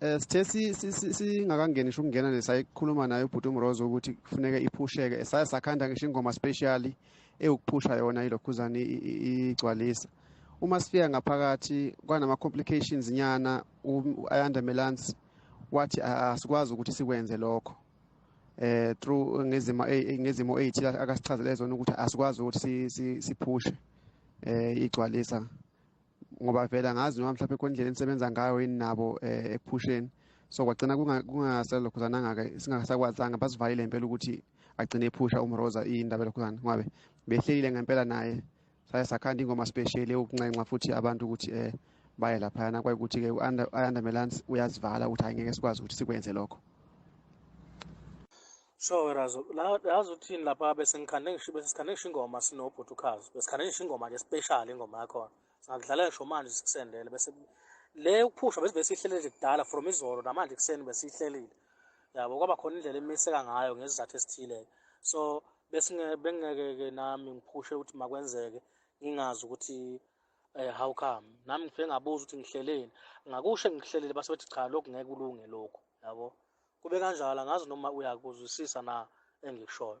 Eh, sithe singakangeni ngisho ukungena nesayikhuluma naye ubhuti umrozo ukuthi kufuneke iphusheke esaye sakhanda ngisho ingoma specially ewukuphusha yona ilokhuzane igcwalisa uma sifika ngaphakathi kwanama-complications nyana u-ayanda um, melance wathi asikwazi ukuthi sikwenze lokho eh through ngezimo eh, eh, ngezimo ethi akasichazele zona ukuthi asikwazi ukuthi siphushe eh igcwalisa ngoba vele angazi noma mhlawumbe khona indlela enisebenza ngayo yini nabo um ekuphusheni so kwagcina kungasalokhuzananga-ke singasakwazanga basivalile ngempela ukuthi agcine ephusha umroza iyindaba elokhuzana ngobe behlelile ngempela naye saye sakhanda ingoma special yokunxenxa futhi abantu ukuthi um baye laphayana kwayikuthi-ke i-under melance uyazivala ukuthi hhayi ngeke sikwazi ukuthi sikwenze lokho Sure wena zo la yazi uthini lapha besingikhande ngisho besikhande ngisho ingoma sinobhuti ukhazi besikhande ngisho ingoma nje special ingoma yakho singakudlala ngisho manje sikusendele bese le ukuphusha bese besihlele nje kudala from izolo namanje kuseni besihlelile yabo kwaba khona indlela emiseka ngayo ngesizathu esithile so bese bengeke ke nami ngiphushe ukuthi makwenzeke ngingazi ukuthi eh how come nami ngifike ngabuza ukuthi ngihleleni ngakusho ngihlelele base bethi cha lokhu ngeke kulunge lokhu yabo kube kanjalo angazi noma uyakuzwisisa na engikushoyo